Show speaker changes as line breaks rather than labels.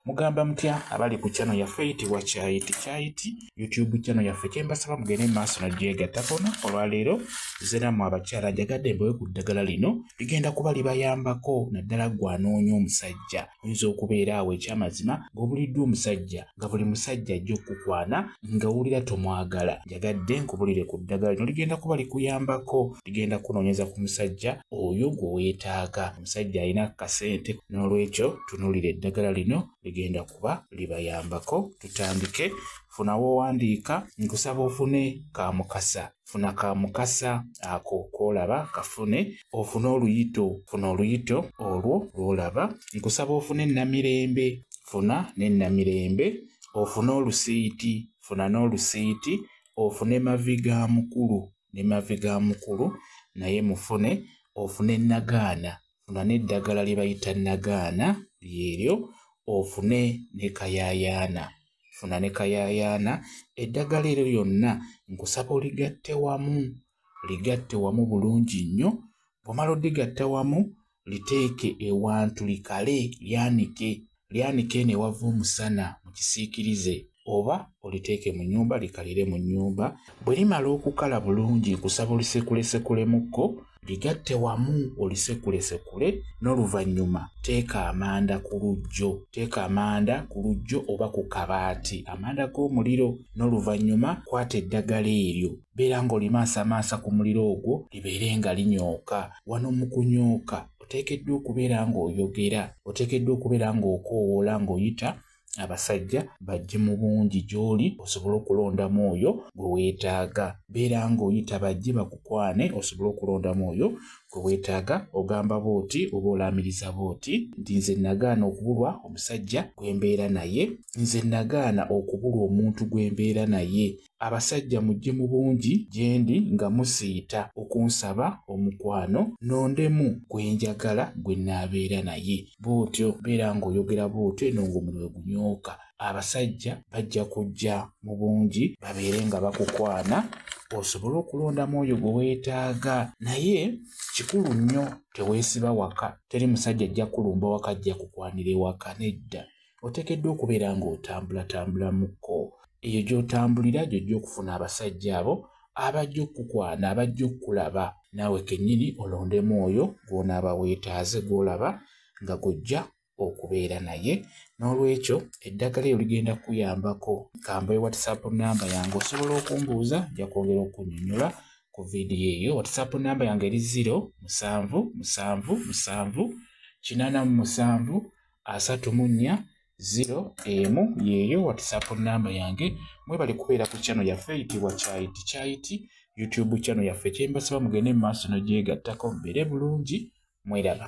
mugamba mutya abali ku chano yaffe eyitibwa kyayiti kyayiti youtube chano yaffe kyembasaba mugende maaso nagyegatakona olwaleero zeramu abakyala njagadde mbewe ku ddagala lino ligenda kuba libayambako naddala gwanoonya omusajja oyinza okubeera awo ekyamazima ngaobuliddwa omusajja nga buli musajja ajja okukukwana nga wulira tomwagala njagadde nkubulire ku ddagala lino ligenda kuba likuyambako ligenda kunoonyeza ku musajja oyo gwe weetaaga omusajja alina kasente n'olwekyo tunuulira eddagala lino ligenda kuba libayambako tutandike funa wowandiika nkusaba ofune ka mukasa funa ka mukasa ako kolaba kafune ofune oluyito funa oluyito olwo lwolaba nkusaba ofune namirembe funa ne namirembe ofune olusiiti funa n'olusiiti ofune mavi ga mukulu ne mavi ga mukulu naye mufune ofune nagaana funa n'eddagala lye bayita nagaana lyeryo ofune ne kayayaana funa ne kayayaana eddagala eryo lyonna nkusaba oligatte wamu ligatte wamu bulungi nnyo bwomala odigatta wamu liteeke ewantu likale lyanike lyanike eno ewava omusana mu kisiikirize oba oliteeke mu nnyumba likalire mu nnyumba. Bwe limala okukala bulungi nkusaba olisekulesekulemu-ko ligatte wamu olisekulesekule n'oluvannyuma teeka amanda ku lujjo teeka amanda ku lujjo oba ku kabaati amanda g'omuliro n'oluvannyuma kwata eddagala eryo beera ng'olimaasamaasa ku muliro ogwo libeere nga linyooka wano mu kunyooka oteekeddwa okubeera ng'oyogera oteekeddwa okubeera ng'okoowoola ng'oyita abasajja bajje mu bungi gy'oli osobole okulondamu oyo gwe weetaaga beera ng'oyita bajje bakukwane osobole okulondamu oyo gwe weetaaga ogamba booti oba olaamiriza booti nti nze nagaana okubulwa omusajja gwe mbeera naye nze nagaana okubulwa omuntu gwe mbeera naye abasajja mujje mu bungi gyendi nga musiita okunsaba omukwano nondemu gwe njagala gwe naabeera naye bw'otyo beera ng'oyogera bw'otyo eno ng'omuliro gunyooka abasajja bajja kujja mu bungi babeere nga bakukwana osobole okulondamu oyo gwe weetaaga naye kikulu nnyo teweesiba waka teri musajja ajja kulumba waka ajja kukwanira ewaka nedda oteekeddwa okubeera ng'otambulatambulamuko eyo gy'otambulira gyojja okufuna abasajja abo abajja okukwana abajja okukulaba naawe kennyini olondemu oyo gw'onaaba weetaaze gw'olaba nga gojja okubeera naye n'olwekyo eddagala eyo ligenda kukuyambako kamba e whatsapp namba yange osobola okumbuuza nja kwongera okunyonyola ku vidiyo eyo whatsapp namba yange eri 0 musanvu musanvu musanvu kinana mu musanvu asatu mu nnya ziro emu yeeyo whatsapp namba yange mwebali kubeera ku chano yaffe eyitibwa kyayiti kyayiti youtube chano yaffe kyembasaba mugende mu maaso nogyegattako mbeere bulungi mweraba